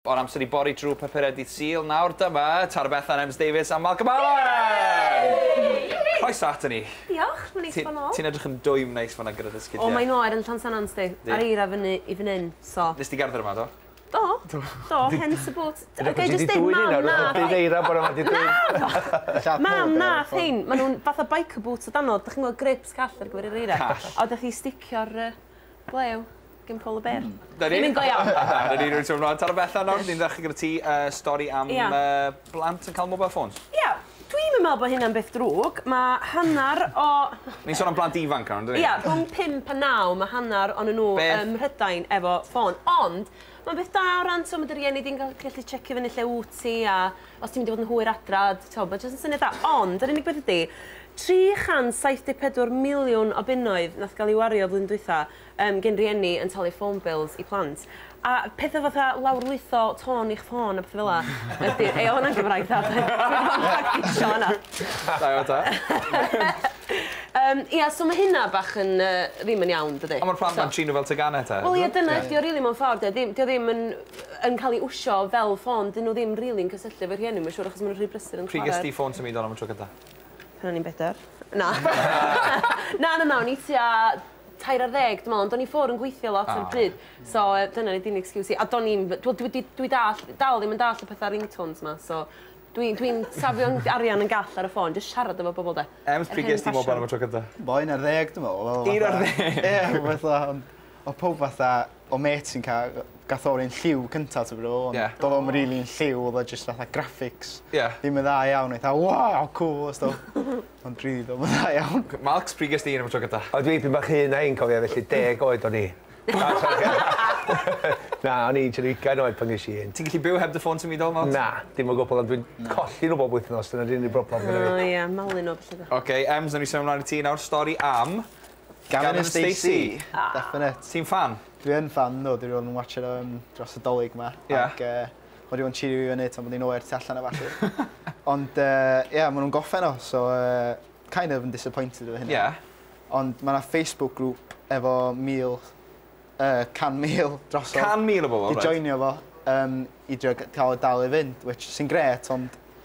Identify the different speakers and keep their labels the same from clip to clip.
Speaker 1: O'r amser i bori drwy papurau dydd Sul, nawr dyma Tara Bethan, Ems Davies a Malcolm Allen! Croeso aton ni. Diolch, mae'n neis bod
Speaker 2: nôl. Ti'n edrych yn dwym neis
Speaker 1: fan'na gyda dy sgidiau. O, mae'n oer yn Llansannan,
Speaker 2: sdi, a'r eira fyny i fan hyn, so. Nes di gerdded yma, do?
Speaker 1: Do, do,
Speaker 2: hence the boot. Ga'i jyst deud, mam wnaeth hein! Dyna pam ti 'di dwyn hein nawr, dydd eira bore 'ma 'di dwyn.
Speaker 3: Naddo! Mam wnaeth
Speaker 2: hein, maen nhw'n fatha biker boots o dano, dach chi'n gweld grips call ar gyfer yr eira? Call. A wedyn chi sticio'r yy... Ble yw? Gin Paul y Bear. Hmm. 'Na ni. Dim un go iawn. Dyna ni rwy'n teimlo.
Speaker 1: Taro Bethan nawr ni'n ddechre gyda ti yy stori am... Ia. ...yy blant yn ca'l mobile phones. Ia dwi'm yn
Speaker 2: me'wl bo' hynna'n beth drwg ma' hannar o... Ni'n sôn am blant
Speaker 1: ifanc nawr on'd 'yn ni? Ia rhwng pump a
Speaker 2: naw ma' hannar onyn nw... Be'? ...ym Mhrydain efo ffôn ond ma'n beth da o ran t'o' ma' dy rieni di'n ga'l gallu tsiecio fyny lle wt ti a Os ti'n mynd i fod yn hwyr adra, t'o' ma' jyst yn syniad da. Ond yr unig beth ydi 374 miliwn o bunnoedd nath ga'l 'i wario flwyddyn dwytha yym gin rieni yn talu ffôn bills i plant. A pethe fatha lawrlwytho tôn i'ch ffôn a pethe fel 'a ydi... Ei o' wnna'n Gymraeg dda doedd? Dwi 'di bod yn practisio wnna. Da iawn ta.
Speaker 1: Yym
Speaker 2: ia so ma' hynna bach yn yy ddim yn iawn dydi? On' ma'r plant 'ma'n trin n'w fel
Speaker 1: tegane 'te. Wel ie dyna ydi o rili mewn
Speaker 2: ffordd 'di o ddim 'di o ddim yn yn ca'l 'i wsio fel ffôn 'dyn n'w ddim rili'n cysylltu efo rhieni ma' siŵr achos ma' n'w rhy brysur yn chwara. Pryd ges di ffôn symudol am y tro cynta?
Speaker 1: Pan o'n i'n bedwar.
Speaker 2: Na. Na na na o'n i tua tair ar ddeg dwi me'wl ond o'n i ffwr yn gweithio lot ar y pryd so yy dyna nid yn excuse i a do'n i'm f- t'wod dwi 'di dwi dall' dal ddim yn dall' y petha ringtones 'ma so dwi dwi'n safio yn arian yn gall ar y ffôn jyst siarad efo bobol 'de. Ems pryd ges di mobile
Speaker 1: am y tro cynta? Bo un ar ddeg dwi
Speaker 3: me'wl. Un ar ddeg? Ie
Speaker 1: fatha ond
Speaker 3: o' powb fatha O mêt sy'n ca- yy gath o'r lliw cynta t'o' be' dwi feddwl ond... Ie. ...do'dd o'm rili'n lliw odd o jyst fatha graphics. Ie. Ddim yn dda iawn eitha waw cŵl a stwff. Ond rili do'm yn dda iawn. Oce Marks pryd ges di un am y
Speaker 1: tro gynta? O dwi 'pyn bach hŷn na 'i'n
Speaker 3: cofio felly deg oed o'n i. Na o'n i'n tua ugain oed pan gesh i un. Ti'n gallu byw heb dy ffôn symudol
Speaker 1: Marks? Na dim o gwbwl ond dwi'n
Speaker 3: colli n'w bob wythnos dyna 'di'r unig broblem gynno fi. O ie malu 'no bellach.
Speaker 2: Oce Ems newn ni symud mlan
Speaker 1: i ti nawr stori am Gavin and
Speaker 3: Stacey. Definate. Ti'n ffan? Dwi
Speaker 1: yn ffan nhw,
Speaker 3: dwi 'di bod yn watsio nhw yym dros y 'Dolig 'ma... Ie. ...ac yy ma' 'di bod yn tsirio fi fyny tan bod hi'n oer tu allan a ballu. Ond yy ie ma' nhw'n gorffen nawr so yy kind of yn disappointed efo hynna. Ie. Ond ma' 'na Facebook group efo mil yy can mil drosodd... Can mil o bobol reit. ...'di joinio
Speaker 1: fo yym
Speaker 3: i drio g- ca'l o dal i fynd which sy'n grêt ond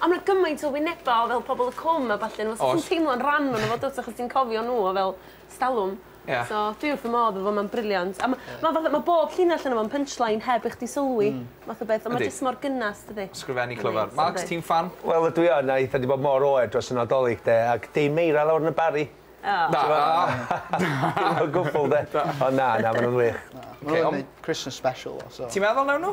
Speaker 2: Ond ma' 'na gymaint o wyneba o fel pobol y cwm a ballu fel sa chdi'n teimlo'n ran onno fo dw't achos ti'n cofio n'w o fel 'stalwm. Ia. So dwi wrth fy modd efo fo ma'n briliant a ma' ma' fatha ma' bob llinell onno fo'n punchline heb i chdi sylwi. Hmm. Math o beth on' ma' jyst mor gynas dydi? Sgrifennu clyfar. Marks
Speaker 1: ti'n ffan? Wel ydw i yn a eitha
Speaker 3: 'di bod mor oer dros y Nadolig 'de ac dim eira lawr yn y Barri. O.
Speaker 1: Na.
Speaker 3: Dim o gwbwl 'de. Ond na na ma' nw'n wych. Na. Ma' nw'n neud Christmas special so. Ti'n meddwl newn nw?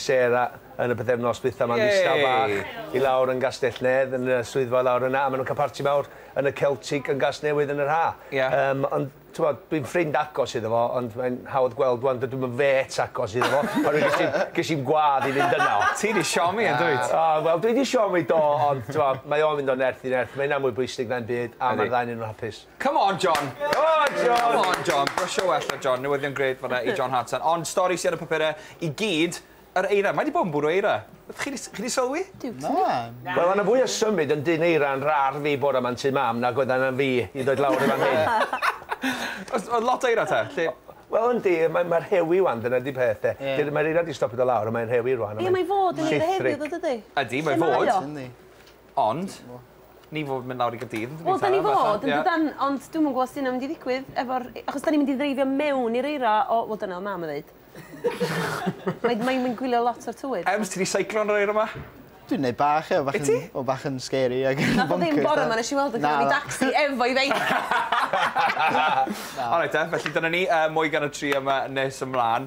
Speaker 3: Sarah yn y pythefnos dwytha ma'n ddistaw bach i lawr yn Gastell-nedd yn y swyddfa lawr yna a ma' nw'n ca'l parti mawr yn y Celtic yn Gasnewydd yn yr ha'. Ie. Yym ond t'mod dwi'n ffrind agos iddo fo ond mae'n hawdd gweld ŵan dydw i'm yn fêt agos iddo fo oherwydd ges i'm ges i'm gwadd i fynd yno. Ti 'di siomi yndwyt?
Speaker 1: O wel dwi 'di siomi
Speaker 3: do ond t'mo mae o'n mynd o nerth i nerth mae hynna'n mwy bwysig na'm byd a ma'r ddau 'nyn nhw'n hapus. Come on John!
Speaker 1: Go on John! Come on John! Brwsio well ar John, newyddion grêt fanna i John Hartson. Ond stori sy ar y papure i gyd, yr eira. Mae 'di bod yn bwrw eira. Chi 'di chi 'di sylwi? Na.
Speaker 3: Wel o' 'na fwy o symud yn dyn eira yn rar fi bore 'ma yn tŷ mam nag oedd arna fi i ddod lawr i fan hyn. O's
Speaker 1: o'dd lot o eira te? Lle... Wel yndi,
Speaker 3: mae mae rhewi 'wan, dyna 'di peth de. Ie. Dydy... Mae'r eira 'di stopio do' lawr on' mae'n rhewi rŵan a mae'n... Ie mae fod yn eira heddiw tho
Speaker 2: dydi? Ydi, mae fod.
Speaker 1: Lle mae o? Yndi. Ond ni fod mynd lawr i Gaerdydd ydyn ni? Wel 'dan ni fod
Speaker 2: yndydan ond dwi'm yn gw'o' os 'di wnna mynd i ddigwydd efo'r e- achos 'dan ni mynd i ddreifio mewn i'r eira o wel dyna o' mam yn ddeud. Mae
Speaker 1: mae
Speaker 2: mae'n
Speaker 1: gwylio
Speaker 2: lot o'r
Speaker 1: tywydd.
Speaker 2: Ems
Speaker 1: ti 'di
Speaker 2: seiclo
Speaker 1: yn yr eira
Speaker 2: 'ma? Dwi'n
Speaker 4: neud bach ie bach yn... Wyt ti? ...o bach yn scary ag yn boncyrs a... Nath o ddim bore
Speaker 2: 'ma nesh i weld o gynno fi dacsi efo'i feic. Na.
Speaker 1: Alright 'te felly dyna ni yy mwy gan y tri yma nes ymlan.